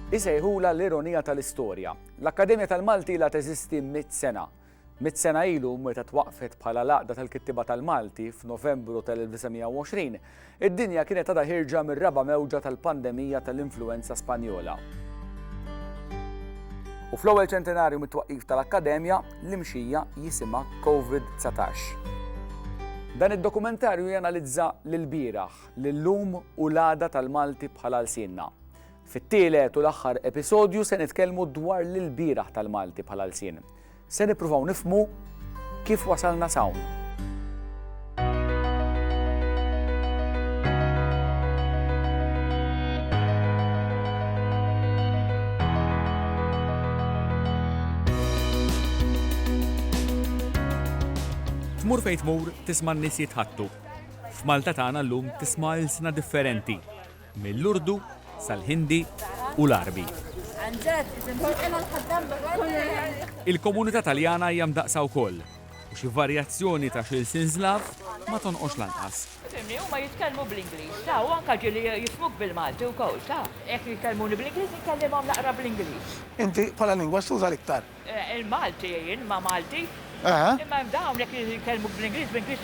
Isejħulha l-ironija tal-istorja. L-Akkademja tal-Malti ilha teżisti mitt sena. Mitt sena ilu, meta twaqqfet bħala l-Għaqda tal-Kittiba tal-Malti f'Novembru tal-1920, id-dinja kienet għadha ħierġa mir-raba' mewġa tal-pandemija tal-influwenza Spanjola. U fl-ewwel ċentenarju mit-twaqqif tal-Akkademja, l-imxija jisimha COVID-19. Dan id-dokumentarju janalizza l-bieraħ, l-illum u l-għada tal-Malti bħal għalsienna. Fit-tielet u l-aħħar episodju se nitkellmu dwar l-ilbieraħ tal-Malti bħal għalsien. Se nippruvaw nifmu kif wasalna sawn. Tmur fejn tmur tisma' n-nies jitħattu F'Malta tagħna llum tisma' ilsna differenti, mill-Urdu sal-Ħindi u l-Għarbi. Il-komunità Taljana hija mdaqqsa wkoll, u xi varjazzjoni ta' xi lsien Slav ma tonqosx lanqas. Fimni, huma jitkellmu bl-Ingliż, ta, u anka ġieli jifhmuk bil-Malti wkoll, ta. Jekk jikellmuni bl-Ingliż, inkellimhom naqra bl-Ingliż. Inti bħala lingwa x'tuża l-iktar? Il-Malti jgħin ma' Malti. Imma hemm dawnek li jkellmuk bl-Ingliż, bl-Ingliż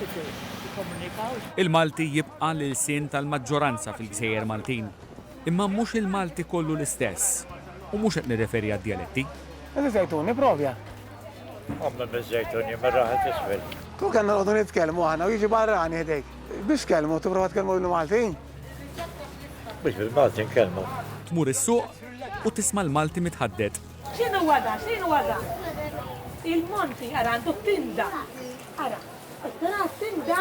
jikkomunikaw. Il-Malti jibqa' l-ilsien tal-maġġoranza fil-gżejjer Maltin. Imma mhux il-Malti kollu l-istess. U mhux qed nirreferi għad-djaletti. Inti żejtun, ipprovja. Għamel miż-żejtun jien mir-raħal t'isfel. Kieku kellna noqogħdu nitkellmu aħna u jiġi barrani ħdejk, biex tkellmu? Tipprova tkellmu bil-Malti? Mhux bil-Malti nkellmu. Tmur is-suq u tisma' l-Malti mitħadded. X'inhu dan? X'inhu dan? Il-monti ara għandu tinda. Ara, tara tinda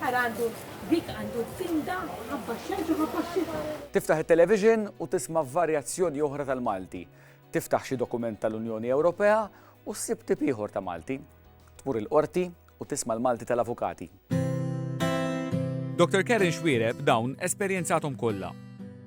ara għandu dik għandu tinda ħabba xemx u ħabba xita. Tiftaħ it-television u tisma' varjazzjoni oħra tal-Malti. Tiftaħ xi dokument tal-Unjoni Ewropea u ssib tip ieħor ta' Malti. tmur il-Qorti u tisma' l-malti tal-avukati. Dr. Karen Xuereb dawn esperjenzathom kollha.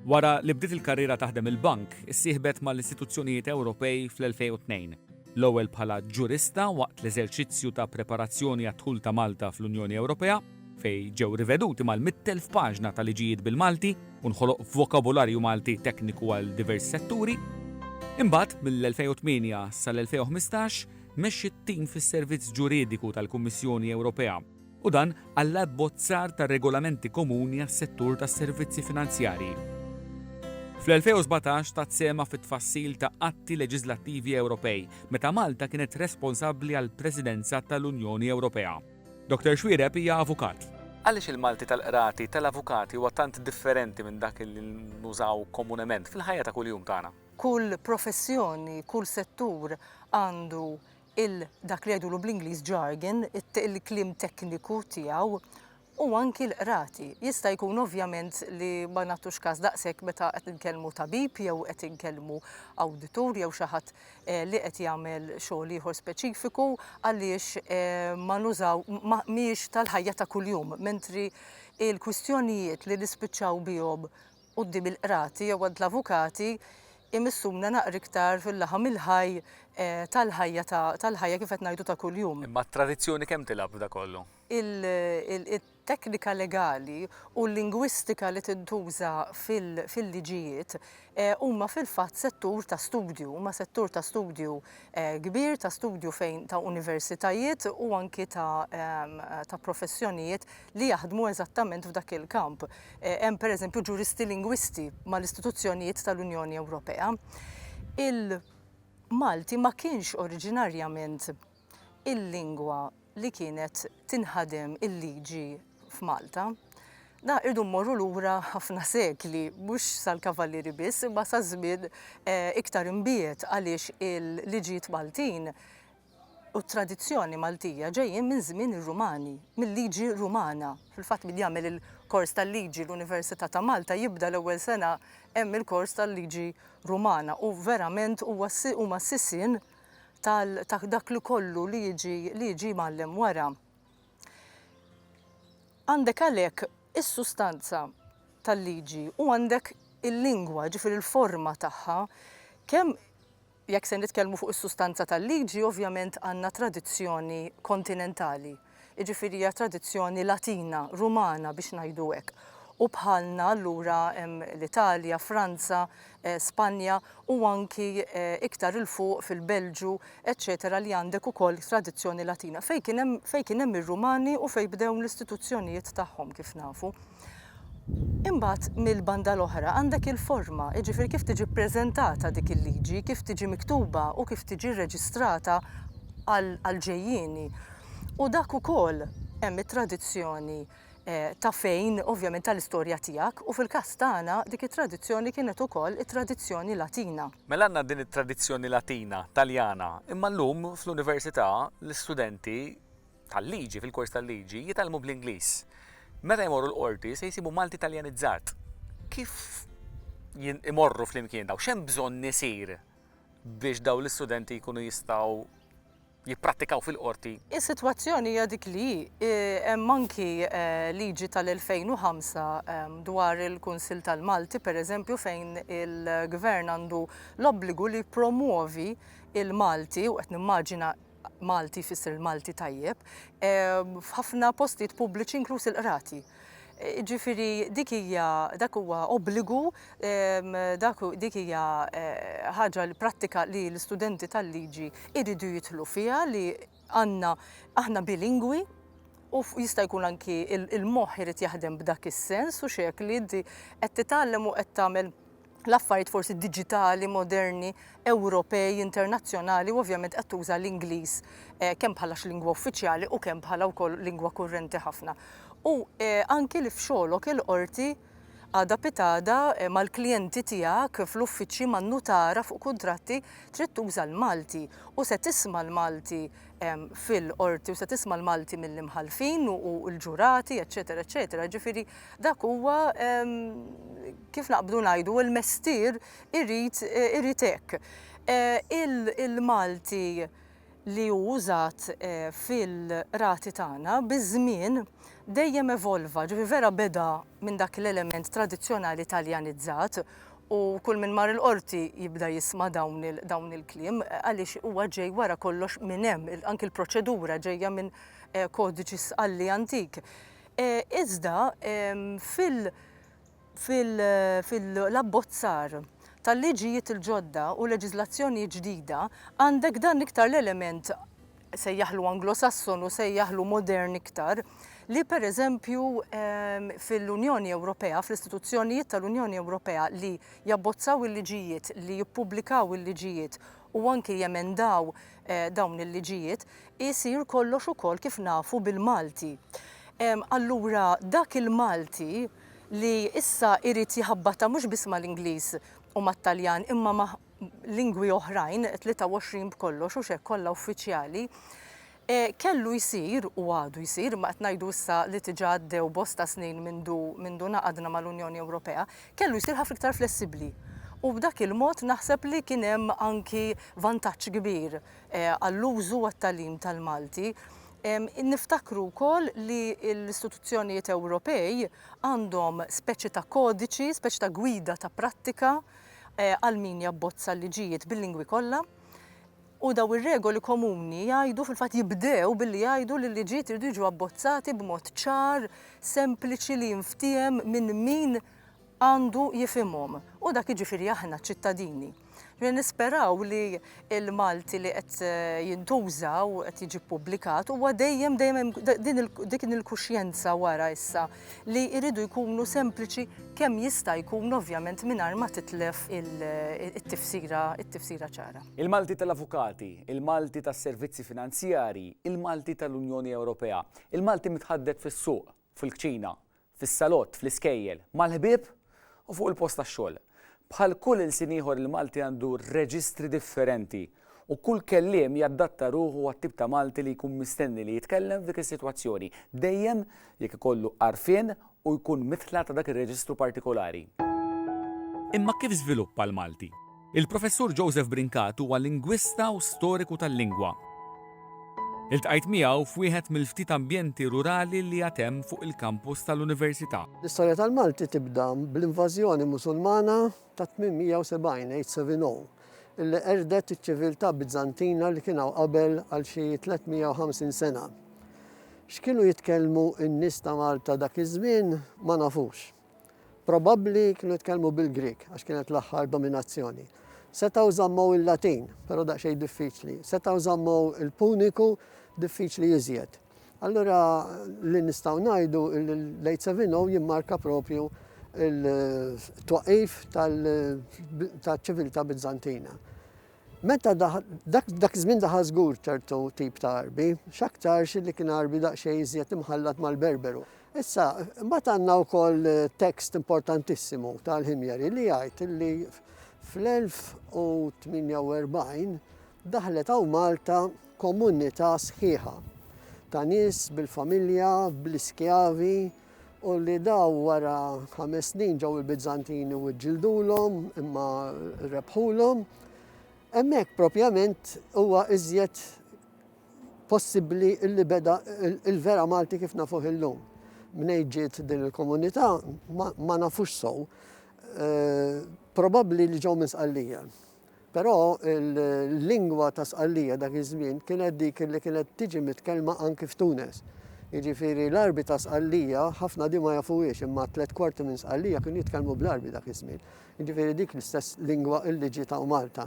Wara li bdiet il-karriera taħdem il-bank, issieħbet mal-istituzzjonijiet Ewropej fl-2002, l-ewwel bħala ġurista waqt l-eżerċizzju ta' preparazzjoni għad-dħul ta' Malta fl-Unjoni Ewropea, fejn ġew riveduti mal-100,000 paġna ta' liġijiet bil-Malti u nħoloq vokabularju Malti tekniku għal diversi setturi. Imbagħad, mill-2008 sal-2015, Mexxi t-tim fis-Servizz Ġuridiku tal-Kummissjoni Ewropea u dan għall-abbozzar ta' regolamenti komuni għas-settur tas-servizzi finanzjarji. Fl-2017 tat sehemha fit-tfassil ta' atti leġiżlattivi Ewropej meta Malta kienet responsabbli għall-Presidenza tal-Unjoni Ewropea. Dr Xuereb hija avukat. Għaliex il-Malti tal-qrati tal-avukati huwa tant differenti minn dak li nużaw komunement fil-ħajja ta' kuljum tagħna? Kull professjoni, kull settur għandu il dak li jgħidulu bl-Ingliż jargon, il-kliem tekniku tiegħu, u anki l-qrati. Jista' jkun ovvjament li ma nagħtux każ daqshekk meta qed inkellmu tabib jew qed inkellmu awditur jew xi ħadd eh, li qed jagħmel xogħol ieħor speċifiku għaliex eh, ma nużaw mhijiex tal-ħajja ta' kuljum, mentri il-kwistjonijiet li nispiċċaw bihom quddiem il-qrati jew għand l-avukati jmissuna naqra iktar fil-laħam il-ħaj tal-ħajja ta' tal-ħajja kif qed ngħidu ta' kuljum. Imma t-tradizzjoni kemm tilgħab f'dak kollu? Il-teknika legali u l-lingwistika li tintuża fil-liġijiet huma fil-fatt settur ta' studju, huma settur ta' studju kbir, ta' studju fejn ta' universitajiet u anki ta' professjonijiet, li jaħdmu eżattament f'dak il-kamp. Eh, hemm pereżempju ġuristi lingwisti mal-istituzzjonijiet tal-Unjoni Ewropea. Il-Malti ma kienx oriġinarjament il-lingwa li kienet tinħadem il-liġi f'Malta. Da irdu mmorru lura ħafna sekli, mhux sal-kavallieri biss, imma sa żmien eh, iktar imbiet għaliex il-liġijiet Maltin u t-tradizzjoni Maltija ġejjin minn żmien ir-Rumani, mil-liġi Rumana. Fil-fatt min jagħmel il-kors tal-liġi l-Università ta' Malta jibda l-ewwel sena hemm il-kors tal-liġi Rumana u verament huwa huma s-sisien tal ta' dak li kollu li jiġi li jiġi mgħallem wara. Għandek għalhekk is-sustanza tal-liġi u għandek il-lingwa, ġifieri l-forma tagħha, kemm Jekk se nitkellmu fuq is-sustanza tal-liġi, ovvjament għandna tradizzjoni kontinentali, jiġifieri hija tradizzjoni Latina, Rumana biex ngħidu hekk, u bħalna allura hemm l-Italja, Franza, Spanja u anki iktar 'il fuq fil-Belġju, eċċetera li għandek ukoll tradizzjoni Latina fejn kien hemm fejn kien hemm ir-Rumani u fejn bdew l-istituzzjonijiet tagħhom kif nafu. Imbagħad mill-banda l-oħra għandek il-forma, jiġifieri kif tiġi ppreżentata dik il-liġi, kif tiġi miktuba u kif tiġi rreġistrata għall-ġejjieni. U dak ukoll hemm it-tradizzjoni ta' fejn, ovvjament tal-istorja tiegħek, u fil-każ tagħna dik it-tradizzjoni kienet ukoll it-tradizzjoni Latina. Mela għandna din it-tradizzjoni Latina, Taljana, imma llum fl-Università l-istudenti tal-liġi, fil-kors tal-liġi, jitgħallmu bl-Ingliż. Meta jmorru l-qorti se jsibu Malti Taljanizzat. Kif imorru flimkien daw, xem bżonn nisir biex daw l-istudenti jkunu jistgħu jipprattikaw fil-qorti. Is-sitwazzjoni hija dik li eh, hemm anki eh, liġi tal-2005 eh, dwar il-Kunsill tal-Malti, pereżempju fejn il-Gvern għandu l-obbligu li promuovi il-Malti u qed nimmaġina Malti jfisser il-Malti tajjeb, f'ħafna postijiet pubbliċi inkluż il-qrati. Ġifieri dik hija dak huwa obbligu, dak dik hija eh, ħaġa li prattika li l-istudenti tal-liġi jridu jidħlu fiha li għandna aħna bilingwi u jista' jkun anki il-moħħ irid jaħdem b'dak is-sens u xek li inti qed titgħallem u qed tagħmel l-affarijiet forsi diġitali, moderni, Ewropej, internazzjonali u ovvjament qed tuża l-Ingliż eh, kemm bħala lingwa uffiċjali u kemm bħala wkoll lingwa kurrenti ħafna. U eh, anki li f'xogħolok il-qorti għada pitada eh, mal-klijenti tiegħek fl-uffiċċji man-nutara fuq kuntratti trid tuża l-Malti u se tisma' l-Malti ehm, fil-qorti u se tisma' l-Malti mill-imħalfin u l-ġurati, eċetera, eċetera. Ġifieri Dak huwa, kif naqbdu ngħidu, il-mestier irid irid hekk. Il-Malti li hu użat fil-qrati tagħna biż-żmien dejjem evolva, ġifieri vera beda minn dak l-element tradizzjonali Taljanizzat u kull min mar il-Qorti jibda jisma' dawn dawn il-kliem għaliex huwa ġej wara kollox minn hemm, anki l-proċedura ġejja minn kodiċi Sqalli antik. Iżda fil-abbozzar tal-liġijiet il-ġodda u leġiżlazzjoni ġdida għandek dan iktar l-element, sejjaħlu Anglo-Sasson u sejjaħlu modern iktar, li pereżempju fil-Unjoni Ewropea, fl-istituzzjonijiet tal-Unjoni Ewropea li jabbozzaw il-liġijiet, li jippubblikaw il-liġijiet u anki jemendaw dawn il-liġijiet, isir kollox ukoll kif nafu bil-Malti. Allura dak il-Malti li issa jrid jħabbatha mhux biss mal-Ingliż u mat-Taljan imma ma' lingwi oħrajn, 23 b'kollox, hux hekk kollha uffiċjali, Kellu jsir, u għadu jsir, imma qed ngħidu issa li diġà għaddew bosta snin mindu ngħaqadna mal-Unjoni Ewropea, kellu jsir ħafna iktar flessibbli. U b'dak il-mod naħseb li kien hemm anki vantaġġ kbir għall-użu u għat-tagħlim tal-Malti. Niftakru wkoll li l-istituzzjonijiet Ewropej għandhom speċi ta' kodiċi, speċi ta' gwida ta' prattika għal min jabbozza l-liġijiet bil-lingwi kollha. U dawn ir-regoli komuni jgħidu, fil-fatt jibdew billi jgħidu li l-liġijiet iridu jiġu abbozzati b'mod ċar, sempliċi li jinftiehem minn min għandu jifhimhom, u dak jiġifieri aħna, ċ-ċittadini. Ġifieri nisperaw li l-Malti li qed jintuża u qed jiġi ppubblikat huwa dejjem, dejjem hemm din il-kuxjenza wara issa. li jridu jkunu sempliċi kemm jista' jkun ovvjament mingħajr ma titlef it-tifsira it-tifsira ċara. Il-Malti tal-Avukati, il-Malti tas-Servizzi Finanzjarji, il-Malti tal-Unjoni Ewropea, il-Malti mitħaddet fis-suq, fil-kċina, fis-salott, fl-iskejjel, mal-ħbieb u fuq il-post tax-xogħol. Bħal kull ilsien ieħor il-Malti għandu reġistri differenti u kull kelliem jaddatta ruħu għat-tip ta' Malti li jkun mistenni li jitkellem f'dik is-sitwazzjoni, dejjem jekk ikollu għarfien u jkun mitla' ta' dak ir-reġistru partikolari. Imma kif żviluppa l-Malti? Il-Professur Joseph Brincat huwa lingwista u storiku tal-lingwa. Iltqajt miegħu f'wieħed mill-ftit ambjenti rurali li għad hemm fuq il-kampus tal-Università. L-istorja tal-Malti tibda bl-invażjoni Musulmana tat-870 HCV-NO li qerdet iċ-ċiviltà Biżantina li kien hawn qabel għal xi 350 sena. X'kienu jitkellmu n-nies ta' Malta dak iż-żmien ma nafux. Probabbli kienu jitkellmu bil-Grieg għax kienet l-aħħar dominazzjoni. Setgħu żammew il-Latin, però daqsxejn diffiċli. Setgħu żammew il-Puniku diffiċli iżjed. Allura li nistgħu ngħidu l-late 70 jimmarka propju il-twaqif tal-ċiviltà Bizzantina. Meta dak iż-żmien daħal żgur ċertu tip ta' Għarbi, x'aktarx li kien Għarbi daqsxejn iżjed imħallat mal-Berberu. Issa, imbagħad għandna wkoll tekst importantissimu ta' l-Ħimjeri li jgħid li fl-1048 daħlet hawn Malta komunità sħiħa ta' nies bil-familja, bl-iskjavi, u li dawn wara ħames snin ġew il-Bizzantini u ġġildulhom imma rebħulhom, hemmhekk propjament huwa iżjed possibbli li beda il-vera Malti kif nafuh illum. Mnejn ġiet din il-komunità ma nafux sew, eh, probabbli li ġew minn Sqallija. Però l-lingwa ta' Sqallija dak iż-żmien kienet dik li kienet tiġi mitkellma anki f'Tunes. Jiġifieri l-Għarbi ta' Sqallija ħafna di ma jafuhiex imma tliet kwarti minn Sqallija kienu jitkellmu bl-Għarbi dak iż-żmien. Jiġifieri dik l-istess lingwa li ġiet hawn Malta.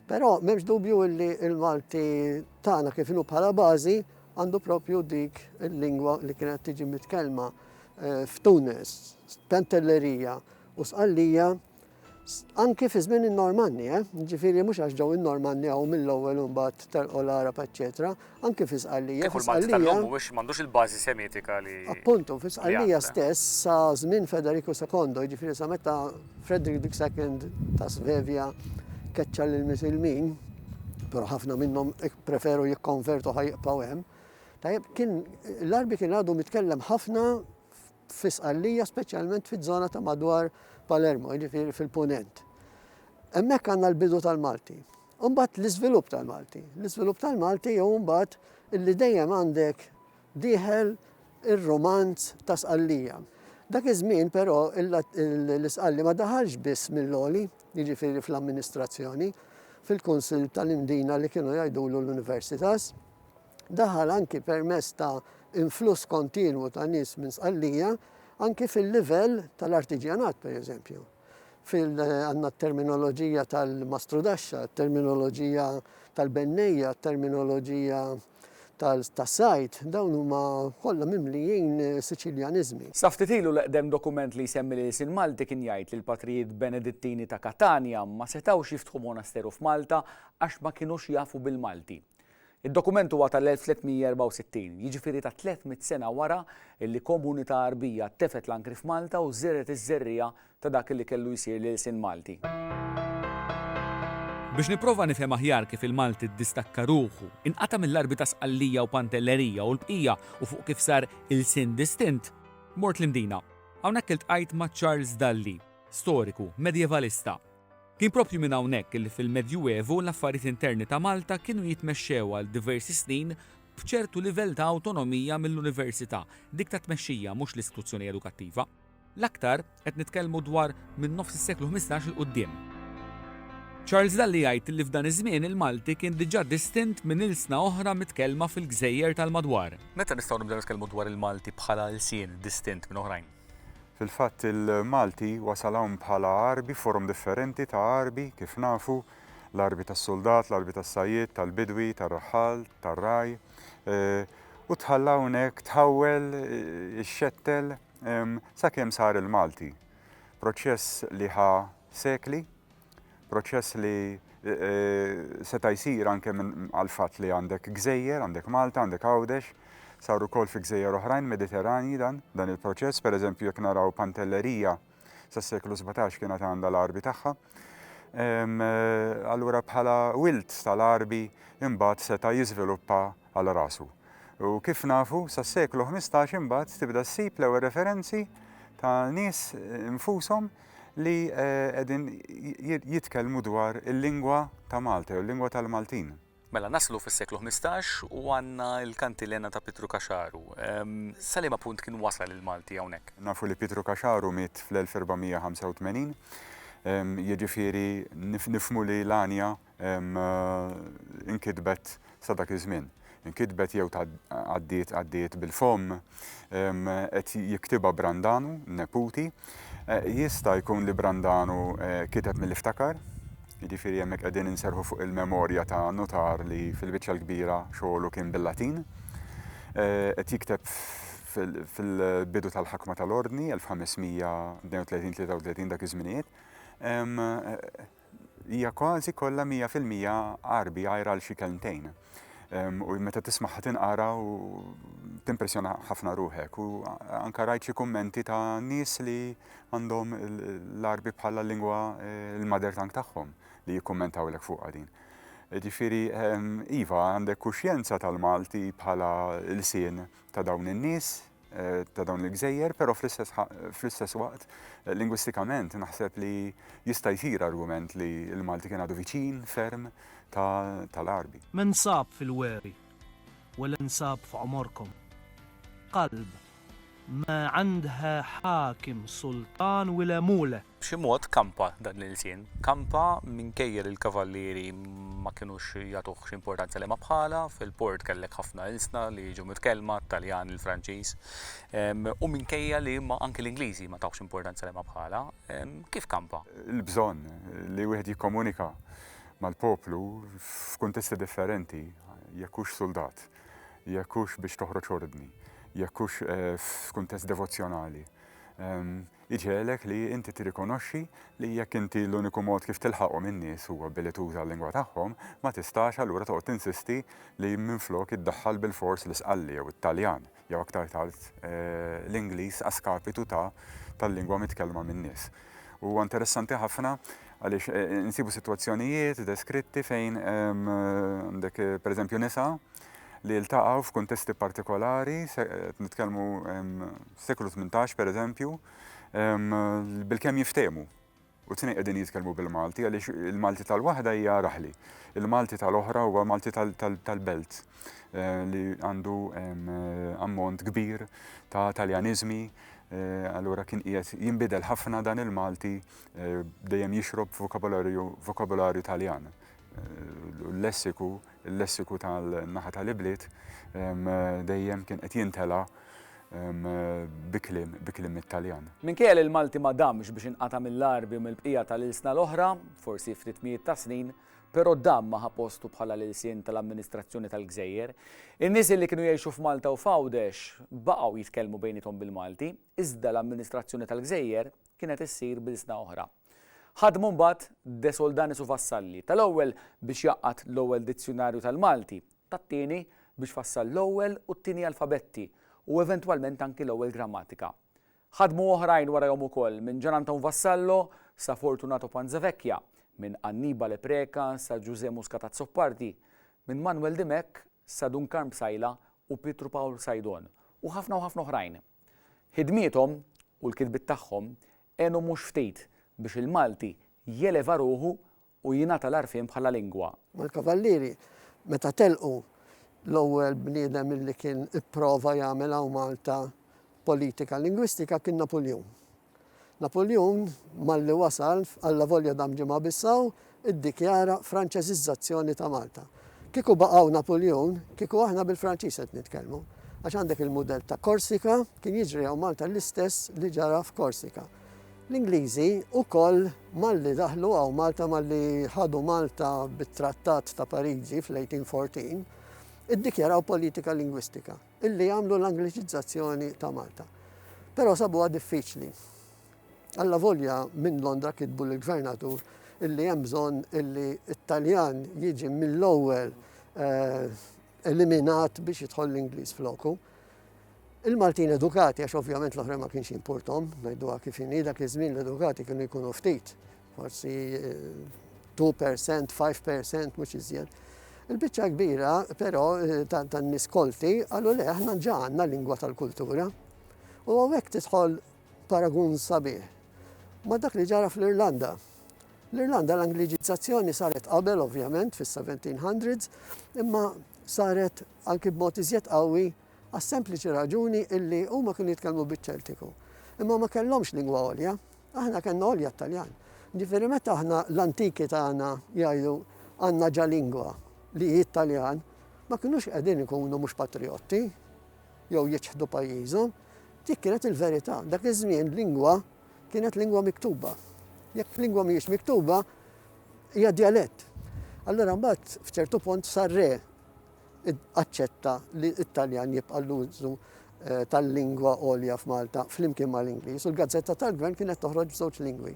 Però m'hemmx dubju li l-Malti tagħna kif inhu bħala bażi għandu propju dik il-lingwa li kienet tiġi mitkellma eh, f'Tunes, Pantellerija u Sqallija Anki fi żmien in-Normanni, eh? ġifieri mhux għax ġew in-Normanni hawn mill-ewwel u mbagħad telqu l-Għarab eċċetera, anki fi Sqallija. Kieku l-Malti tal-lum mhuwiex m'għandux il-bażi Semitika li. Appuntu, fi Sqallija stess sa żmien Federiku Sekondo, jiġifieri sa meta Frederick the Second ta' Svevja keċċa lil Misilmin, però ħafna minnhom preferu jikkonvertu ħajqpaw hemm. Tajjeb, kien l-Arbi kien għadu mitkellem ħafna fi Sqallija, speċjalment fiż-żona ta' madwar Palermo, jiġifieri fil-Punent. Hemmhekk għandna l-bidu tal-Malti. Imbagħad l-iżvilupp tal-Malti. L-iżvilupp tal-Malti jew imbagħad illi dejjem għandek dieħel ir-romanz ta' Sqallija. Dak iż-żmien però l-Isqalli ma daħalx biss mill-oli, jiġifieri fl-amministrazzjoni, fil-kunsill tal-indina li kienu jgħidulu l-universitas, Daħal anki permezz ta' influss kontinwu ta' nies minn Sqallija anki fil-livell tal-artiġjanat pereżempju. Fil għandna t-terminoloġija tal-mastrudaxxa, t-terminoloġija tal-bennejja, t-terminoloġija tas-sajd, dawn huma kollha mimlijin Siċiljaniżmi. Sa ftit ilu l-eqdem dokument li jsemmi l-ilsien Malti kien jgħid li l-patrijiet Benedittini ta' Katanja ma setgħux jiftħu monasteru f'Malta għax ma kinux jafu bil-Malti. Id-dokument huwa tal-1364, jiġifieri ta' tliet mitt sena wara li komunità Għarbija tefgħet l-ankri f'Malta u żergħet iż-żerriegħa ta' dak li kellu jsir l-ilsien Malti. Biex nipprova nifhem aħjar kif il-Malti ddistakka ruħu, inqata' mill-Għarbi ta' Sqallija u Pantellerija u l-bqija u fuq kif sar ilsien distint, mort l-Imdina. Hawnhekk iltqajt ma' Charles Dalli, storiku, medjevalista, Kien proprju minn hawnhekk li fil-Medjuevu l-affarijiet interni ta' Malta kienu jitmexxew għal diversi snin b'ċertu livell ta' awtonomija mill-Università, dik tat-tmexxija mhux l-istituzzjoni edukattiva. L-aktar qed nitkellmu dwar minn nofs is-seklu ħmistax 'il quddiem. Charles Dalli jgħid li f'dan iż-żmien il-Malti kien diġà distint minn ilsna oħra mitkellma fil-gżejjer tal-madwar. Meta nistgħu nibdew nitkellmu dwar il-Malti bħala lsien distint minn oħrajn? Fil-fatt il-Malti wasal hawn bħala għarbi, forom differenti ta' għarbi kif nafu, l-għarbi tas-suldat, l-għarbi tas-sajjied, tal-bidwi, tar-raħħal, tar-ragħaj, u tħalla hawnhekk tħawwel, ixxettel sakemm sar il-Malti. Proċess li ħa sekli. Proċess li seta' jsir anke għall-fatt li għandek gżejjer, għandek Malta, għandek Għawdex, sar ukoll fi gżejjer oħrajn Mediterranji dan, dan il-proċess, pereżempju jekk naraw Pantelleria sas-seklu 17 kienet għandha l-Għarbi tagħha. Allura bħala wild tal-Għarbi imbagħad seta' jiżviluppa għal rasu. U kif nafu, sas-seklu 15 imbagħad tibda ssib l-ewwel referenzi ta' nies infushom li qegħdin jitkellmu dwar il-lingwa ta' Malta jew il-lingwa tal-Maltin. Mela naslu fis-seklu 15 u għandna l-kantilena ta' Pietru Kaxaru. Salima punt kien wasal il-Malti hawnhekk? Nafu li Pietru Kaxaru miet fl-1485, jiġifieri nifhmu li l-għanja inkitbet sa dak iż-żmien. Inkitbet jew għaddiet għaddiet bil-fomm qed jiktibha Brandanu, neputi. Eh, jista' jkun li Brandanu eh, kiteb mill-iftakar, Jiġifieri hemmhekk qegħdin inserħu fuq il-memorja ta' notar li fil-biċċa l-kbira xogħlu kien bil-Latin. Eh, qed jikteb fil-bidu tal-ħakma tal-ordni 1532-33 dak iż-żminijiet. Eh, Hija kważi kollha mija fil-mija Għarbi għajr għal xi kelmtejn. U meta tismagħha tinqara u timpressjona ħafna ruħek. U anka rajt xi kummenti ta' nies li għandhom l-Għarbi bħala lingwa eh, l-mother tongue tagħhom li jikkummentaw lek fuqha din. Ġifiri, ehm, Iva, għandek kuxjenza tal-Malti bħala l-sin ta' dawn in-nies, Eh, ta' dawn il-gżejjer, pero fl-istess waqt, eh, lingwistikament, naħseb li jista' jsir argument li l-Malti kien għadu viċin ferm tal-Arbi. Men sab fil-weri, u l-insab f'għomorkom. Qalb, ma għandha ħakim sultan wile mule. b'xi mod kampa dan l-ilsien. Kampa minkejja li l-kavallieri ma kinux jagħtuh xi importanza li ma bħala, fil-port kellek ħafna ilsna li jiġu mitkellma, Taljan, il-Franċiż, ehm, u minkejja li ma anki l-Ingliżi ma tawx importanza li ma bħala, ehm, kif kampa? Il-bżonn li wieħed jikkomunika mal-poplu f'kuntesti differenti, jekk hux suldat, jekk hux biex toħroġ ordni, jekk hux eh, f'kuntest devozzjonali. Ehm, Jidhirlek li inti tirrikonoxxi li jekk inti l-uniku mod kif tilħaqhom in-nies huwa billi tuża l-lingwa tagħhom, ma tistax allura toqgħod tinsisti li minflok iddaħħal bilfors l-Isqalli jew it-Taljan, jew aktar tard l-Ingliż a skapitu ta' tal-lingwa mitkellma min-nies. Huwa interessanti ħafna għaliex insibu sitwazzjonijiet deskritti fejn għandek pereżempju nisa li ltaqgħu f'kuntesti partikolari, qed nitkellmu fis-seklu tmintax pereżempju, bilkemm jiftehmu. U t-tnejn qegħdin jitkellmu bil-Malti għaliex il-Malti tal-waħda hija raħli. Il-Malti tal-oħra huwa Malti tal-belt eh, li għandu ammont kbir ta' Taljaniżmi Eh, allura kien qiegħed jinbidel ħafna dan il-Malti eh, dejjem jixrob vokabularju vokabularju Taljan. Eh, l-lessiku Il-lessiku tal-naħa tal-ibliet dejjem kien qed jintela' bi kliem bi kliem mit-Taljan. Minkejja li l-Malti ma damx biex inqata' mill-Għarbi u mill-bqija tal-ilsna l-oħra, forsi ftit mijiet ta' snin, però dam ma ħa postu bħala l-ilsien tal-amministrazzjoni tal-gżejjer. In-nies illi kienu jgħixu f'Malta u f'Għawdex baqgħu jitkellmu bejniethom bil-Malti, iżda l-amministrazzjoni tal-gżejjer kienet issir b'ilsna oħra. Ħadmu mbagħad De Soldanis u Vassalli, tal-ewwel biex jgħaqqad l-ewwel dizzjunarju tal-Malti, tat-tieni biex fassal l-ewwel u t-tieni alfabetti u eventwalment anki l-ewwel grammatika. Ħadmu oħrajn warajhom ukoll, minn Gian Anton Vassallo sa Fortunato Panzavecchia, minn Annibale Preca sa Ġużè Muscat Azzopardi, minn Manwel Dimech sa Dun Karm Psaila u Pietru Pawl Sajdon, u ħafna u ħafna oħrajn. Ħidmiethom u l-kitbiet tagħhom Għenu mhux ftit biex il-Malti jeleva ruħu u jingħata l-għarfien bħala lingwa. Mal-Kavallieri, meta telqu, l-ewwel bniedem illi kien ipprova jagħmel hawn Malta politika lingwistika kien Napuljun. Napuljun, malli wasal, allavolja dam ġimgħa biss hawn, iddikjara Franċeżiżżazzjoni ta' Malta. Kieku baqgħu Napuljun, kieku aħna bil-Franċiż qed nitkellmu. Għax għandek il-mudell ta' Korsika, kien jiġri hawn Malta l-istess li ġara f'Korsika. L-Ingliżi wkoll malli daħlu hawn Malta malli ħadu Malta bit-Trattat ta' Pariġi fl-1814, iddikjaraw politika lingwistika illi jagħmlu l-Angliċizzazzjoni ta' Malta. Però sabuha diffiċli. Allavolja minn Londra kitbu lill-Gvernatur illi hemm bżonn illi t-Taljan jiġi mill-ewwel eliminat biex jidħol l-Ingliż floku, il-Maltin edukati, għax ovvjament l-oħrajn ma kienx jimpurthom, ngħiduha kif inhi, dak iż-żmien l-edukati kienu jkunu ftit, forsi 2%, 5% mhux iżjed. Il-biċċa kbira, però, eh, tan-nies kolti, qalu le aħna ġa għandna lingwa tal-kultura. U hawnhekk tidħol Paragun sabiħ ma' dak li ġara fl-Irlanda. L-Irlanda l-Angliġizzazzjoni saret qabel ovvjament fis-1700s, imma saret anki b'mod iżjed qawwi għas-sempliċi raġuni illi huma kienu jitkellmu biċ-Ċeltiku. Imma ma kellhomx lingwa għolja, aħna kellna għolja t-Taljan. Ġifieri meta aħna l-antiki tagħna jgħidu għandna ġa lingwa li hi t-Taljan, ma kinux qegħdin ikunu mhux patrijotti jew jiċħdu pajjiżhom, Dik kienet il-verità. Dak iż-żmien lingwa kienet lingwa miktuba. Jekk lingwa mhijiex miktuba, hija dialett. Allura mbagħad f'ċertu punt sar re aċċetta li t-Taljan jibqa' l-użu eh, tal-lingwa għolja f'Malta flimkien mal-Ingliż u l-gazzetta tal-gvern kienet toħroġ b'żewġ lingwi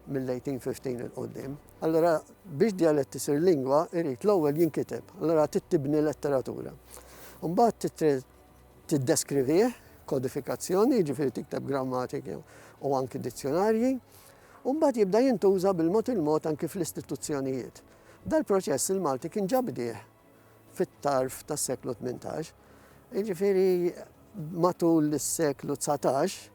mill-1815 il-qoddim. Allora, biex dialett isir lingwa, irrit l-ewwel jinkiteb, allora tittibni letteratura. Mbagħad tiddeskrivih, kodifikazzjoni, jiġifieri tikteb grammatiki u anki dizzjonarji, u mbagħad jibda jintuża bil-mod il-mod anki fl-istituzzjonijiet. Dal-proċess il-Malti kien ġa bdieh fit-tarf tas-seklu 18, jiġifieri matul is-seklu 19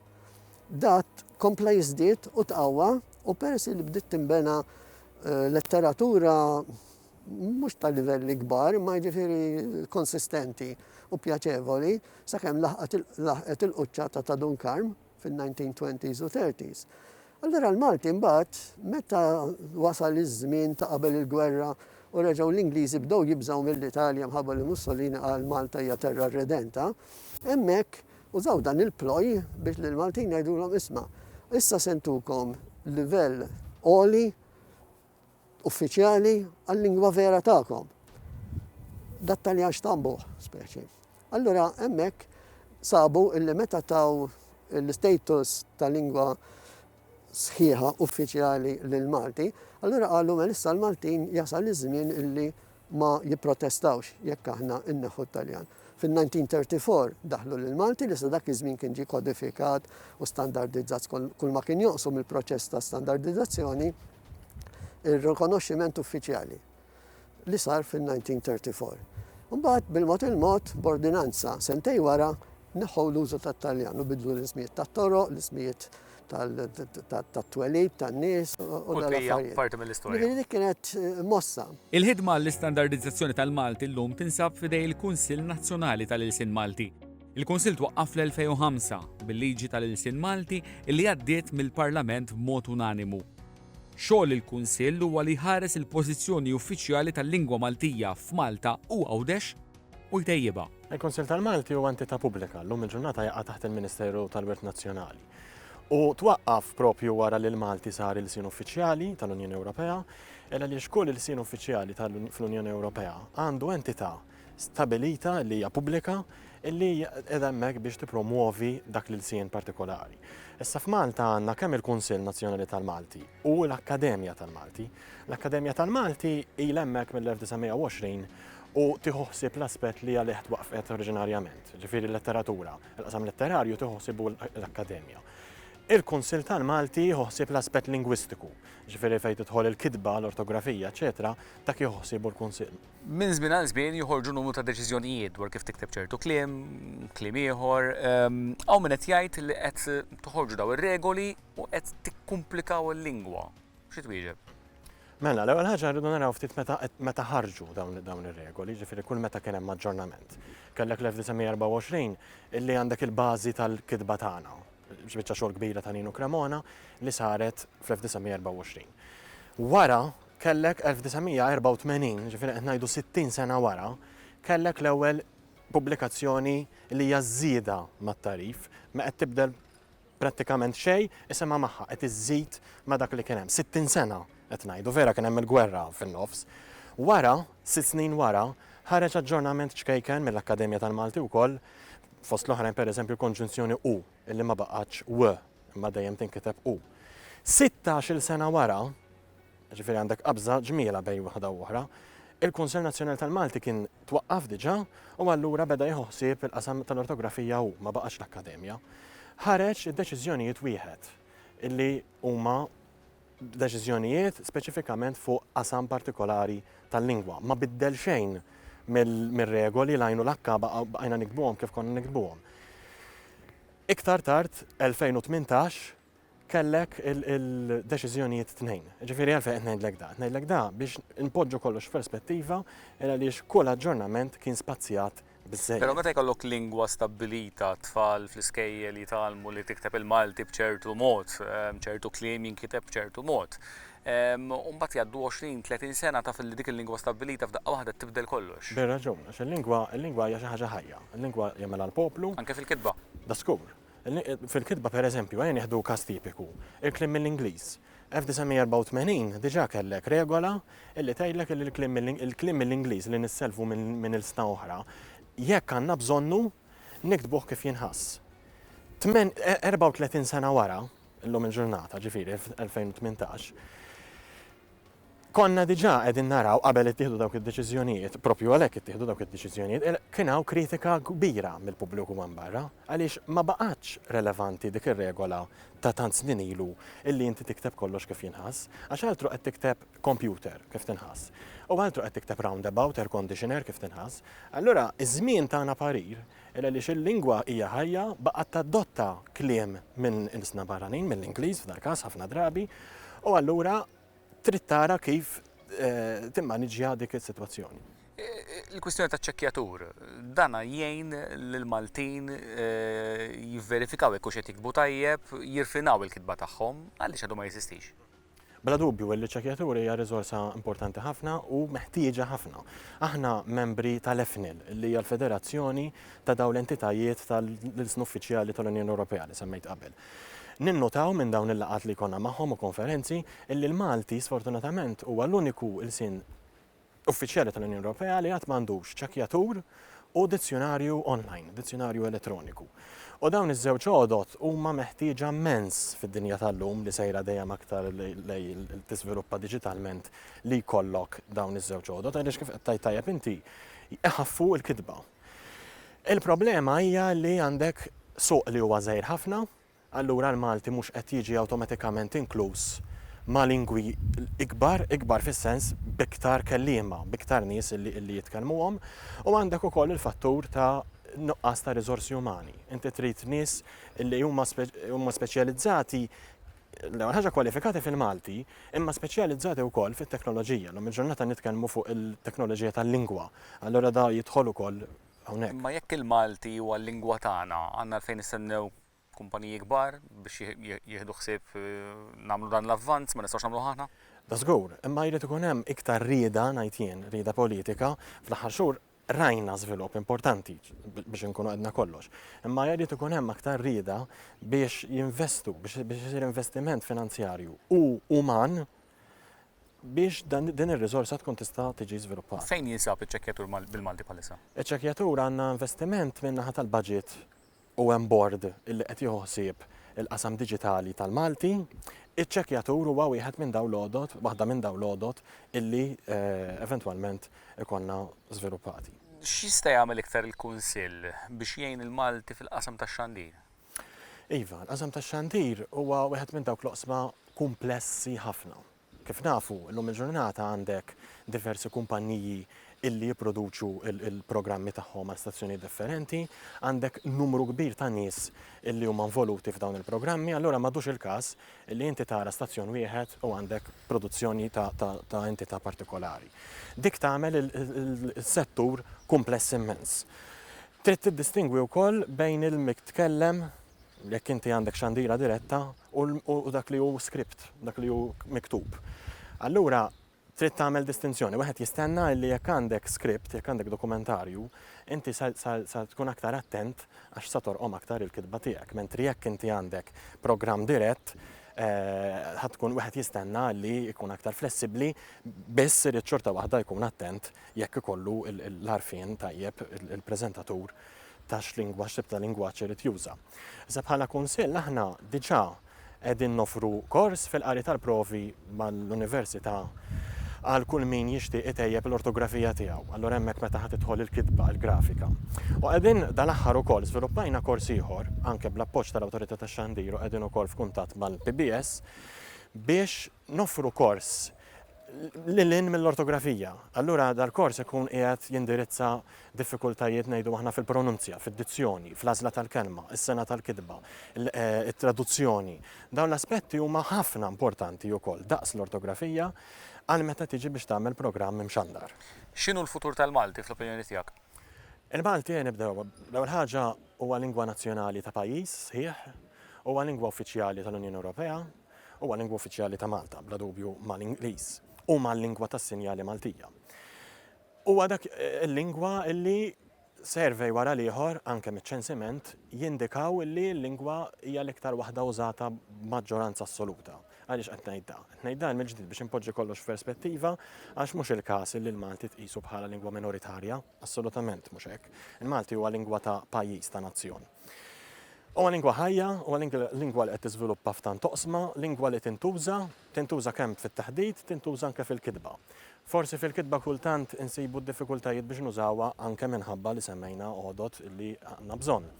dat kompla jiżdied u tqawwa u peress li bdiet tinbena eh, letteratura mhux ta' livelli kbar, imma jiġifieri konsistenti u pjaċevoli, sakemm laħqet il-quċċata ta' Dun Karm fin-1920s u 30s. Allura l-Malti mbagħad meta wasal iż-żmien ta' qabel il-gwerra u reġgħu l-Ingliżi bdew jibżgħu mill-Italja mħabba li Mussolini qal Malta hija terra redenta, hemmhekk użaw dan il-ploj biex lill-Maltin jgħidulhom isma' issa se ntukom livell għoli Uffiċjali għal-lingwa vera tagħkom. Dat-Taljan xtambuh, speċi. Allura hemmhekk sabu illi meta taw l-istatus ta' lingwa sħiħa uffiċjali lill-Malti, allura qalu mel issa l-Maltin jasal iż-żmien illi ma jipprotestawx jekk aħna nneħħu t-Taljan. Fin-1934 daħlu l-Malti li sa dak iż-żmien kien ġie kodifikat u standardizzat kulma kien joqsu mill-proċess ta' standardizzazzjoni ir-rikonoxximent uffiċjali li sar fin-1934. Imbagħad bil-mod il-mod b'ordinanza sentej wara neħħu l-użu tat-Taljan u bidlu l-ismijiet tat-toroq, l-ismijiet tat-twelid tan-nies u dal-affarijiet. Parti mill-istorja. Ġifieri dik kienet eh, mossa. Il-ħidma għall-istandardizzazzjoni tal-Malti llum tinsab f'idej il-Kunsill Nazzjonali tal-Ilsien Malti. Il-Kunsill twaqqaf fl-2005 bil-liġi tal-Ilsien Malti li għaddiet mill-Parlament b'mod unanimu. Xogħol il-Kunsill huwa li jħares il-pożizzjoni uffiċjali tal-lingwa Maltija f'Malta u Għawdex u jtejjibha. Il-Kunsill tal-Malti huwa entità pubblika llum il-ġurnata jaqa' taħt il-Ministeru tal-Wirt Nazzjonali. U twaqqaf proprju wara li l-Malti sar ilsien uffiċjali tal-Unjoni Ewropea, il għaliex kull ilsien uffiċjali fl-Unjoni Ewropea għandu entità stabilita li hija pubblika illi qiegħda hemmhekk biex tippromwovi dak l-ilsien partikolari. Issa f'Malta għandna kemm il-Kunsill Nazzjonali tal-Malti u l-Akkademja tal-Malti. L-Akkademja tal-Malti ilha hemmhekk mill-1920 u tieħu ħsieb l-aspett li għalih twaqqfet oriġinarjament, ġifieri l-letteratura. Il-qasam letterarju tieħu ħsiebu l-Akkademja. Il-Kunsill tal-Malti jieħu ħsieb l-aspett lingwistiku, ġifieri fejn tidħol il-kitba, l-ortografija, eċetera, dak jieħu ħsiebu l-Kunsill. Minn żmien għal żmien joħorġu numru ta' deċiżjonijiet dwar kif tikteb ċertu kliem, kliem ieħor. Ehm, hawn min qed jgħid li qed toħorġu daw ir-regoli u qed tikkumplikaw il-lingwa. Xi twieġeb? Mela, l-ewwel ħaġa rridu naraw ftit meta ħarġu dawn ir-regoli, ġifieri kull meta kien hemm aġġornament. Kellek l-1924 illi għandek il-bażi tal-kitba tagħna, biċċa xogħol kbira ta' Ninu Cremona li saret fl-1924. Wara kellek 1984, ġifieri qed ngħidu 60 sena wara, kellek l-ewwel pubblikazzjoni li hija żieda mat-tarif ma qed tibdel Prattikament xejn, isimha magħha qed iżżid ma' dak li kien hemm. Sittin sena qed ngħidu, vera kien hemm il-gwerra fin-nofs. Wara, sitt snin wara, ħareġ aġġornament ċkejken mill-Akkademja tal-Malti wkoll, fost l-oħrajn pereżempju l-konġunzjoni u, illi ma baqgħetx w, imma dejjem tinkiteb u. Sittax-il sena wara, Jiġifieri għandek qabża ġmielha bejn waħda u oħra. Il-Kunsill Nazzjonali tal-Malti kien twaqqaf diġà u allura beda jieħu ħsieb il-qasam tal-ortografija hu, ma baqax l-Akkademja. Ħareġ id-deċiżjonijiet wieħed illi huma deċiżjonijiet speċifikament fuq qasam partikolari tal-lingwa. Ma biddel xejn mir-regoli l-għajnu l-akka baqajna nikdbuhom kif konna nikdbuhom. Iktar tard, 2018, kellek il-deċiżjonijiet tnejn. Ġifieri għalfejn qed ngħidlek da. Ngħidlek da biex inpoġġu kollox f'perspettiva il għaliex kull aġġornament kien spazjat biżżejjed. Però meta jkollok lingwa stabbilita, t-tfal fl-iskejjel jitgħallmu li tikteb il-Malti b'ċertu mod, ċertu kliem jinkiteb b'ċertu mod. U mbagħad jgħaddu għoxrin, tletin sena taf li dik il-lingwa stabbilita f'daqqa waħda tibdel kollox. Bir-raġun, għax il-lingwa hija xi ħaġa ħajja. Il-lingwa jagħmilha l-poplu. Anke fil-kitba. Da żgur. Fil-kitba, pereżempju, ejja nieħdu każ tipiku, il-kliem mill-Ingliż. 1984 diġà kellek regola li tgħidlek li l-kliem mill-Ingliż li nissellfu minn ilsna oħra, jekk għandna bżonnu, niktbuh kif jinħass. 34 sena wara, illum il-ġurnata, ġifieri 2018, Konna diġà qegħdin naraw qabel ittieħdu dawk id-deċiżjonijiet, proprju għalhekk ittieħdu dawk id-deċiżjonijiet, kien hawn kritika kbira mill-pubbliku hemm barra għaliex ma baqgħetx relevanti dik ir-regola ta' tant snin ilu illi inti tikteb kollox kif jinħass, għax altro qed tikteb computer kif tinħass, u altro qed tikteb roundabout, air conditioner kif tinħass. Allura ż-żmien tana parir Hu għaliex il-lingwa hija ħajja, baqgħet tadotta kliem minn ilsna barranin, mill-Ingliż f'dal-każ ħafna drabi, u allura trid tara kif timmaniġġja dik is-sitwazzjoni. Il-kwistjoni taċ-ċekkjatur, dan jgħin lill-Maltin jivverifikaw jekk hux qed jiktbu tajjeb, jirfinaw il-kitba tagħhom, għaliex għadu ma jeżistix? Bla dubju li ċ-ċekjaturi hija riżorsa importanti ħafna u meħtieġa ħafna. Aħna membri tal-EFNIL, li hija l-federazzjoni ta' dawn l-entitajiet tal-ilsna uffiċjali tal-Unjoni Ewropea li semmejt qabel. Ninnotaw minn dawn il-laqgħat li jkollna magħhom u konferenzi illi l-Malti sfortunatament huwa l-uniku ilsien uffiċjali tal-Unjoni Ewropea li għad m'għandux ċekkjatur u dizzjunarju online, dizzjunarju elettroniku. U dawn iż-żewġ għodod huma meħtieġa mmens fid-dinja tal-lum li sejra dejjem aktar lej tiżviluppa diġitalment li jkollok dawn iż-żewġ għodod għaliex kif qed tajjeb inti iħaffu l-kitba. Il-problema hija li għandek suq li huwa żgħir ħafna, allura l-Malti mhux qed jiġi awtomatikament inkluż ma' lingwi ikbar, ikbar fis-sens b'iktar kelliema, b'iktar nies li jitkellmuhom, u għandek ukoll il-fattur ta' nuqqas ta' riżorsi umani. Inti trid nies li huma speċjalizzati, l-ewwel ħaġa kwalifikati fil-Malti, imma speċjalizzati wkoll fit-teknoloġija. Llum il-ġurnata nitkellmu fuq il-teknoloġija tal-lingwa, allura dan jidħol ukoll hawnhekk. Imma jekk il-Malti huwa l-lingwa tagħna, għandna għalfejn nistennew kumpaniji kbar biex jieħdu ħsieb nagħmlu dan l-avvanz, ma nistgħux nagħmluh aħna? Da żgur, imma jrid ikun hemm iktar rieda, ngħid jien, rieda politika. Fl-aħħar xhur rajna żvilupp importanti, biex inkunu għedna kollox. Imma jrid ikun hemm aktar rieda biex jinvestu, biex isir investiment finanzjarju u uman biex din ir-riżorsa tkun tista' tiġi żviluppata. Fejn jinsab iċ-ċekkjatur bil-Malti bħalissa? Iċ-ċekkjatur għandna investiment min-naħa tal-budget u hemm bord li qed jieħu ħsieb il-qasam diġitali tal-Malti, iċ-ċekkjatur huwa wieħed minn dawn l-għodod, waħda minn dawn l-għodod illi eventwalment ikollna żviluppati. X'jista' jagħmel iktar il-Kunsill biex jgħin il-Malti fil-qasam tax-xandir? Iva, l-qasam tax-xandir huwa wieħed minn dawk l-oqsma kumplessi ħafna. Kif nafu, illum il-ġurnata għandek diversi kumpanniji illi jipproduċu l-programmi tagħhom għal stazzjonijiet differenti, għandek numru kbir ta' nies illi huma involuti f'dawn il-programmi, allura m'għadux il-każ illi inti tara stazzjon wieħed u għandek produzzjoni ta' entità partikolari. Dik tagħmel is-settur kumpless immens. Trid tiddistingwi wkoll bejn il-mitkellem, jekk inti għandek xandira diretta, u dak li hu script, dak li hu miktub. Allura trid tagħmel distinzjoni. Wieħed jistenna li jekk għandek script, jekk għandek dokumentarju, inti sa tkun aktar attent għax sa torqom aktar il-kitba tiegħek. Mentri jekk inti għandek programm dirett, ħa tkun wieħed jistenna li jkun aktar flessibbli, biss irid xorta waħda jkun attent jekk ikollu l-għarfien tajjeb il-preżentatur ta' x'lingwaġġ, x'tip ta' lingwaġġ irid juża. Issa bħala Kunsill aħna diġà qegħdin noffru kors fil-qari tal-provi mal-Università għal kull min jixtieq itejjeb l-ortografija tiegħu. Allura hemmhekk meta ħa tidħol il-kitba, il-grafika. U qegħdin dal-aħħar ukoll żviluppajna kors ieħor, anke bl-appoġġ tal-Awtorità tax-Xandir u qegħdin ukoll f'kuntatt mal-PBS, biex noffru kors lil hinn mill-ortografija. Allura dal-kors ikun qiegħed jindirizza diffikultajiet ngħidu aħna fil-pronunzja, fid-dizzjoni, fl-għażla tal-kelma, is-sengħa tal-kitba, it-traduzzjoni. Dawn l-aspetti huma ħafna importanti wkoll daqs l-ortografija għal meta tiġi biex tagħmel programm imxandar. X'inhu l-futur tal-Malti fl-opinjoni tiegħek? Il-Malti ejja nibdew, l-ewwel ħaġa huwa lingwa nazzjonali ta' pajjiż sħiħ, huwa lingwa uffiċjali tal-Unjoni Ewropea, Huwa lingwa uffiċjali ta' Malta, bla dubju mal-Ingliż u mal-lingwa tas-sinjali Maltija. Huwa dak il-lingwa li survey wara l-ieħor, anke miċ-ċensiment, jindikaw li l-lingwa hija l-iktar waħda użata b'maġġoranza assoluta. Għaliex qed ngħid dan? Qed ngħid dan mill-ġdid biex inpoġġi kollox f'perspettiva għax mhux il-każ li l-Malti tqisu bħala lingwa minoritarja, assolutament mhux hekk. Il-Malti huwa lingwa ta' pajjiż, ta' nazzjon. Huwa lingwa ħajja, huwa lingwa li qed tiżviluppa f'tant oqsma, lingwa li tintuża, tintuża kemm fit-taħdit, tintuża anke fil-kitba. Forsi fil-kitba kultant insibu d-diffikultajiet biex nużawha anke minħabba li semmejna għodod li għandna bżonn.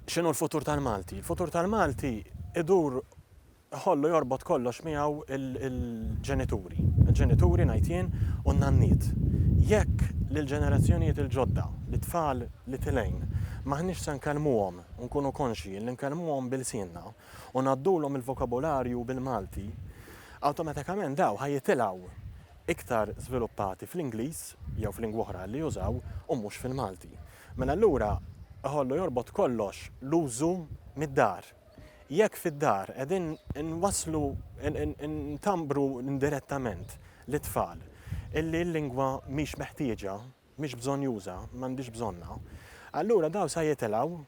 X'inhu l-futur tal-Malti? Il-futur tal-Malti idur Ħollu jorbot kollox miegħu l-ġenituri, il-ġenituri ngħid jien u n-nanniet. Jekk lill-ġenerazzjonijiet il-ġodda, lit-tfal li tilgħin, m'aħniex se nkellmuhom u nkunu konxji li nkellmuhom b'ilsienna u ngħaddulhom il-vokabularju bil-Malti, awtomatikament dawn ħa jitilgħu iktar żviluppati fl-Ingliż jew f'lingwa oħra li jużaw u mhux fil-Malti. Mela allura ħollu jorbot kollox l-użu mid-dar. Jekk fid-dar qegħdin inwasslu, ntambru indirettament lit-tfal illi l-lingwa mhix meħtieġa, mhix bżonnjuża, m'għandhiex bżonnha, allura dawn sa jitilgħu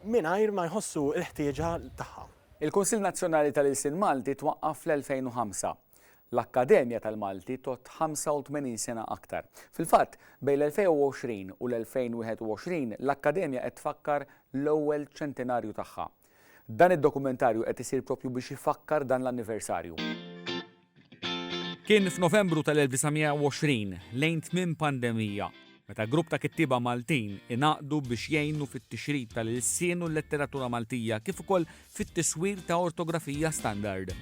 mingħajr ma jħossu l-ħtieġa tagħha. Il-Kunsill Nazzjonali tal-Ilsien Malti twaqqaf fl-2005. L-Akkademja tal-Malti tgħodd 85 sena aktar. Fil-fatt, bejn l-2020 u l-2021 l-Akkademja qed tfakkar l-ewwel ċentenarju tagħha. Dan id-dokumentarju qed isir proprju biex ifakkar dan l-anniversarju. Kien f'Novembru tal-1920, lejn tmiem pandemija. Meta grupp ta' kittieba Maltin ingħaqdu biex jgħinu fit-tixrid tal-ilsien u l-letteratura Maltija kif ukoll fit-tiswir ta' ortografija standard.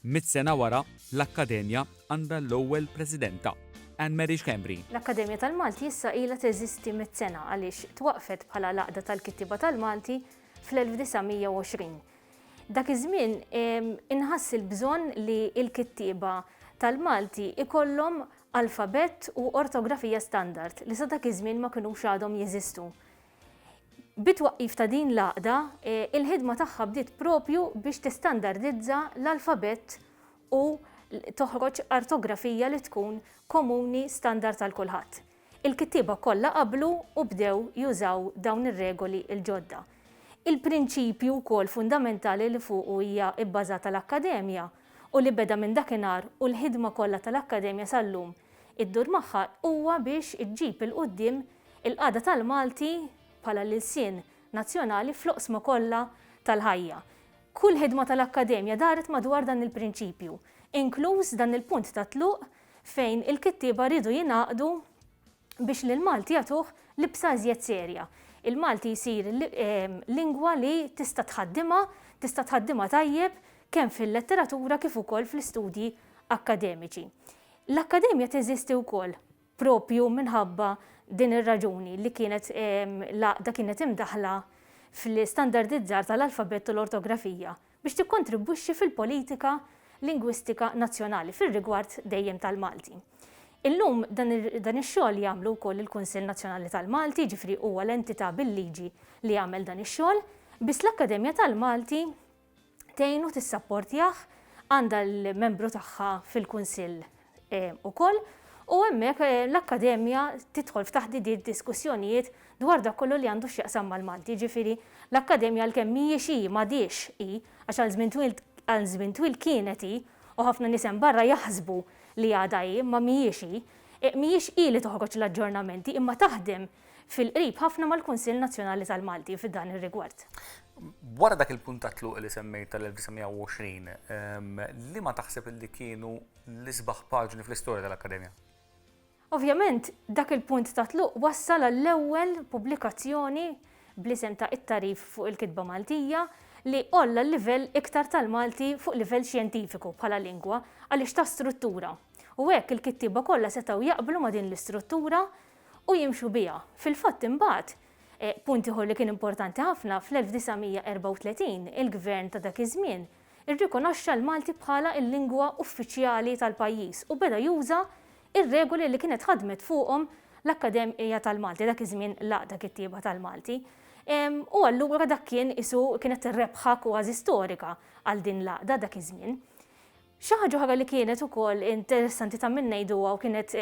Mitt sena wara, l-Akkademja għandha l-ewwel Presidenta, Anne Mary Schembri. L-Akkademja tal-Malti issa ilha teżisti mitt sena għaliex twaqqfet bħala l-Għaqda tal-Kittieba tal-Malti fl-1920. Dak iż-żmien inħass il-bżonn li l-kittieba tal-Malti jkollhom alfabett u ortografija standard li sa dak iż-żmien ma kinux għadhom jeżistu. Bit-twaqqif ta' din l-għaqda, il-ħidma tagħha bdiet proprju biex tistandardizza l-alfabett u toħroġ artografija li tkun komuni standard għal kulħadd. Il-kittieba kollha qablu u bdew jużaw dawn ir-regoli l-ġodda. Il-prinċipju wkoll fundamentali li fuqu hija bbażata l-Akkademja u li beda minn dakinhar u l-ħidma kollha tal-Akkademja sal-lum iddur magħha huwa biex iġġib 'il quddiem il-qagħda tal-Malti bħala l-ilsien nazzjonali fl-oqsma kollha tal-ħajja. Kull ħidma tal-Akkademja daret madwar dan il-prinċipju, inkluż dan il-punt tat-tluq fejn il-kittieba riedu jingħaqdu biex lil Malti jagħtuh libsa iżjed serja. Il-Malti jsir lingwa li tista' tħaddimha, tista' tħaddimha tajjeb kemm fil-letteratura kif ukoll fl-istudji akkademiċi. L-Akkademja teżisti wkoll proprju minħabba din ir-raġuni li kienet l-għaqda kienet imdaħħla fl-istandardizzar tal-alfabett u l-ortografija biex tikkontribwixxi fil-politika lingwistika nazzjonali fir-rigward dejjem tal-Malti. Illum dan ix-xogħol jagħmlu wkoll il-Kunsill Nazzjonali tal-Malti, jiġifieri huwa l-entità bil-liġi li jagħmel dan ix-xogħol, biss l-Akkademja tal-Malti tgħinu tissapportjah għandha l-membru tagħha fil-Kunsill ukoll u hemmhekk eh, l-Akkademja tidħol f'taħdidiet diskussjonijiet dwar dak kollu li għandu x'jaqsam mal-Malti, ġifieri l-Akkademja għalkemm mhijiex hi m'għadiex hi għax għal żmien twil għal żmien twil kienet hi u ħafna nies hemm barra jaħsbu li għadha hi imma mhijiex hi. Eh, mhijiex hi li toħroġ l-aġġornamenti imma taħdem fil-qrib ħafna mal-Kunsill Nazzjonali tal-Malti f'dan ir-rigward. Wara dak il-puntatlu li semmejt tal-1920, ehm, li ma taħseb li kienu l-isbaħ paġni fl-istorja tal-Akkademja. Ovvjament, dak il-punt ta' tluq wassal għall-ewwel pubblikazzjoni bl-isem ta' It-Tagħrif fuq il-Kitba Maltija li għolla l-livell iktar tal-Malti fuq livell xjentifiku bħala lingwa għaliex ta struttura u hekk il-kittieba kollha setgħu jaqblu ma' din l-istruttura u jimxu biha. Fil-fatt imbagħad, eh, punt ieħor li kien importanti ħafna, fl-1934 il-Gvern ta' dak iż-żmien irrikonoxxa l-Malti bħala l-lingwa uffiċjali tal-pajjiż u beda juża r-regoli li kienet ħadmet fuqhom l-Akkademja tal-Malti, dak iż-żmien l-Għaqda Kittieba tal-Malti. U allura dak kien qisu kienet rebħa kważi storika għal din l-għaqda dak iż-żmien. Xi ħaġa oħra li kienet ukoll interessanti ta' min ngħiduha u kienet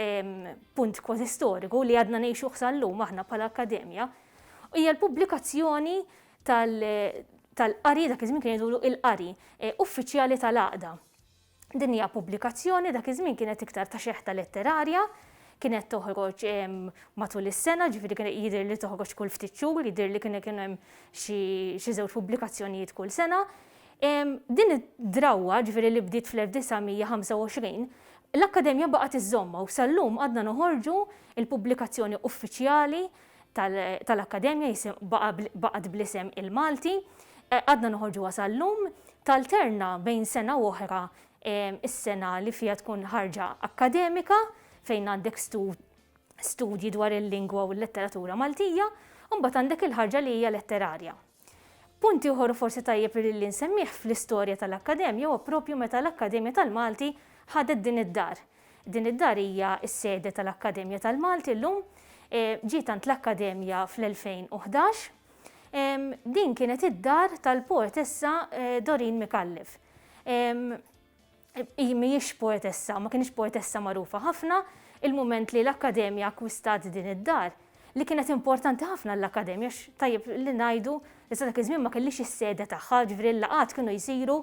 punt kważi storiku li għadna ngħixuh sal-lum aħna bħala akkademja hija l-pubblikazzjoni tal-qari, dak iż-żmien kien jgħidulu il-qari, uffiċjali tal-għaqda. Din hija pubblikazzjoni dak iż-żmien kienet iktar ta' xeħta letterarja, kienet toħroġ matul is-sena, ġifieri kien jidher li toħroġ kull ftit xhur, jidher li kien kienu hemm xi żewġ pubblikazzjonijiet kull sena. Din id-drawwa, ġifieri li bdiet fl-1925, l-Akkademja baqgħet iżżommha u sal-lum għadna noħorġu l-pubblikazzjoni uffiċjali tal-Akkademja baqgħet bl-isem il-Malti, għadna noħorġuha sal-lum, talterna bejn sena u oħra is-sena li fiha tkun ħarġa akkademika fejn għandek studji dwar il-lingwa u l-letteratura Maltija, u mbagħad għandek il-ħarġa li hija letterarja. Punt ieħor u forsi tajjeb li li nsemmih fl-istorja tal-Akkademja huwa proprju meta l-Akkademja tal-Malti ħadet din id-dar. Din id-dar hija s-sede tal-Akkademja tal-Malti llum. Ġiet għand l-Akkademja fl-2011. Din kienet id-dar tal-poetessa Doreen Micallef. hi mhijiex poetessa u ma kienx poetessa magħrufa ħafna il-mument li l-Akkademja akkwistat din id-dar li kienet importanti ħafna l-Akkademja tajjeb li ngħidu li sa dak iż-żmien ma kellix is-sede tagħha, ġifieri l-laqgħat kienu jsiru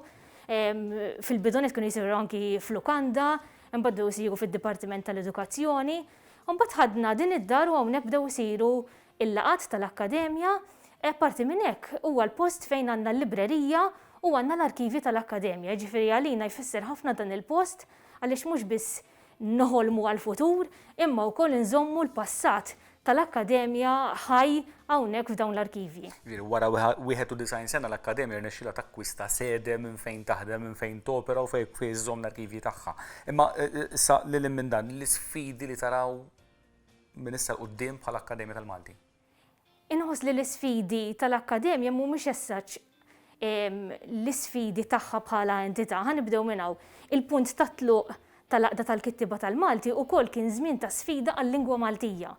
fil-bidunet kienu jsiru anki f'lukanda, imbagħad bdew isiru fid-Dipartiment tal-Edukazzjoni. Imbagħad ħadna din id-dar u hawnhekk bdew isiru Il-laqgħat tal-Akkademja, Apparti minn hekk, huwa l-post fejn għandna l-librerija u għandna l-arkivji tal-Akkademja, jiġifieri għalina jfisser ħafna dan il-post għaliex mhux biss noħolmu għall-futur imma wkoll inżommu l-passat tal-Akkademja ħaj hawnhekk f'dawn l-arkivji. Wara 91 sena l-Akkademja rnexxielha takkwista sede minn fejn taħdem, minn fejn topera u fejn iżżomm l-arkivji tagħha. Imma issa lil hinn minn dan, l-isfidi li taraw? minn issa 'l quddiem bħala Akkademja tal-Malti? Inħoss li l-isfidi tal-Akkademja mhumiex as such l-isfidi tagħha bħala entità. Ħa nibdew minn hawn. Il-punt ta' tluq tal-Għaqda tal-Kittieba tal-Malti wkoll kien żmien ta' sfida għal-lingwa Maltija.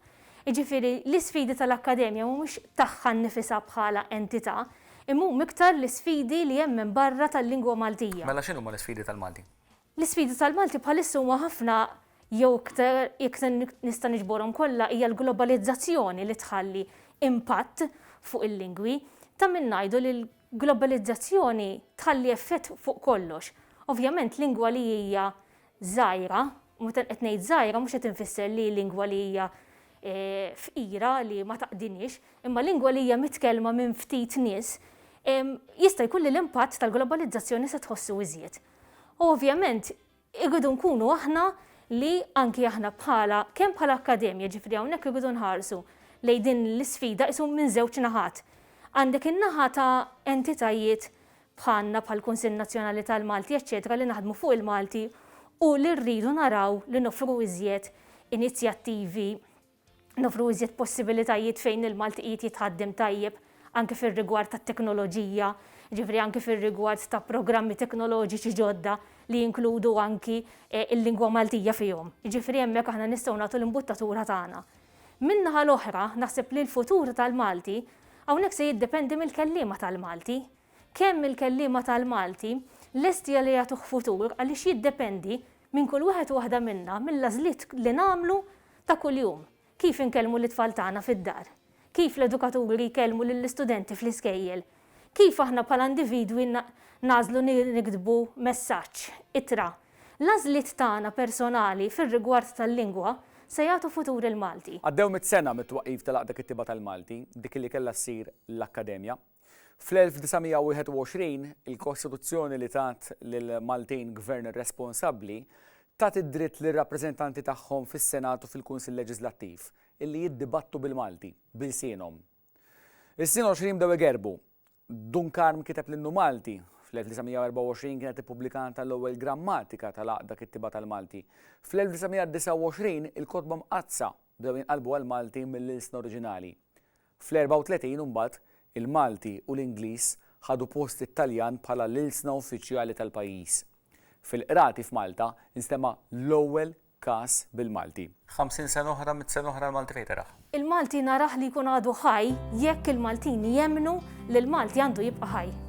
Jiġifieri l-isfidi tal-Akkademja mhumiex tagħha nnifisha bħala entità, imma huma iktar l-isfidi li hemm minn barra tal-lingwa Maltija. Mela x'inhuma l-isfidi tal-Malti? L-isfidi tal-Malti bħalissa huma ħafna jew iktar jekk nista' niġborhom kollha hija l-globalizzazzjoni li tħalli impatt fuq il-lingwi. Ta' min ngħidu li l-globalizzazzjoni tħalli effett fuq kollox. Ovvjament lingwa li hija żgħira, u meta qed ngħid żgħira mhux qed infisser li lingwa li hija fqira li ma taqdiniex, imma lingwa li hija mitkellma minn ftit nies, jista' jkun li l-impatt tal-globalizzazzjoni se tħossu iżjed. U ovvjament irridu nkunu aħna li anki aħna bħala kemm bħala akkademja, ġifieri hawnhekk irridu nħarsu lejn din l-isfida qisu minn żewġ naħat. Għandek in-naħa ta' entitajiet bħalna bħall-Kunsill Nazzjonali tal-Malti eċċetera li naħdmu fuq il-Malti u li rridu naraw li noffru iżjed inizjattivi Noffru iżjed possibilitajiet fejn il-Malti qiegħed jitħaddem tajjeb anke fir-rigward tat-teknoloġija, jiġifieri anke fir-rigward ta' programmi teknoloġiċi ġodda li jinkludu anki l-lingwa Maltija fihom. Jiġifieri hemmhekk aħna nistgħu nagħtu l-imbuttatura tagħna. Min-naħa l-oħra, naħseb li l-futur tal-Malti hawnhekk se jiddependi mill-kelliema tal-Malti. Kemm il-kelliema tal-Malti lesti li jagħtuh futur għaliex jiddependi Minn kull wieħed u waħda minna, mill-għażliet li nagħmlu ta' kuljum. Kif inkellmu lit-tfal tagħna fid-dar? Kif l-edukaturi jkellmu lill-istudenti fl-iskejjel? Kif aħna bħala individwi nagħżlu niktbu messaġġ, ittra? L-għażliet tagħna personali fir-rigward tal-lingwa se jagħtu futur il-Malti. Għaddew mitt sena mit-twaqqif tal-Għaqda Kittieba tal-Malti, dik li kellha ssir l-Akkademja. Fl-1921, il-Kostituzzjoni li tat lill-Maltin gvern responsabbli tat id-dritt lir-rappreżentanti tagħhom fis-Senat u fil-Kunsill Leġiżlattiv illi jiddibattu bil-Malti, b'ilsienhom. Is-snin għoxrin bdew igerbu. Dun Karm kiteb l-Innu Malti, fl-1924 kienet ippubblikata l-ewwel grammatika tal-għaqda kittieba tal-Malti. Fl-1929 il-kotba mqaddsa bdew jinqalbu għall-Malti mill-ilsna oriġinali. Fl-34 imbagħad, il-Malti u l-Ingliż ħadu post it-Taljan bħala l-ilsna uffiċjali tal-pajjiż. Fil-Qrati f'Malta nstema' l-ewwel każ bil-Malti. Ħamsin sena oħra, mitt sena oħra l-Malti fejn teraħ? Il-Malti narah li jkun għadu ħaj jekk il-Maltin jemmnu li l-Malti għandu jibqa' ħaj.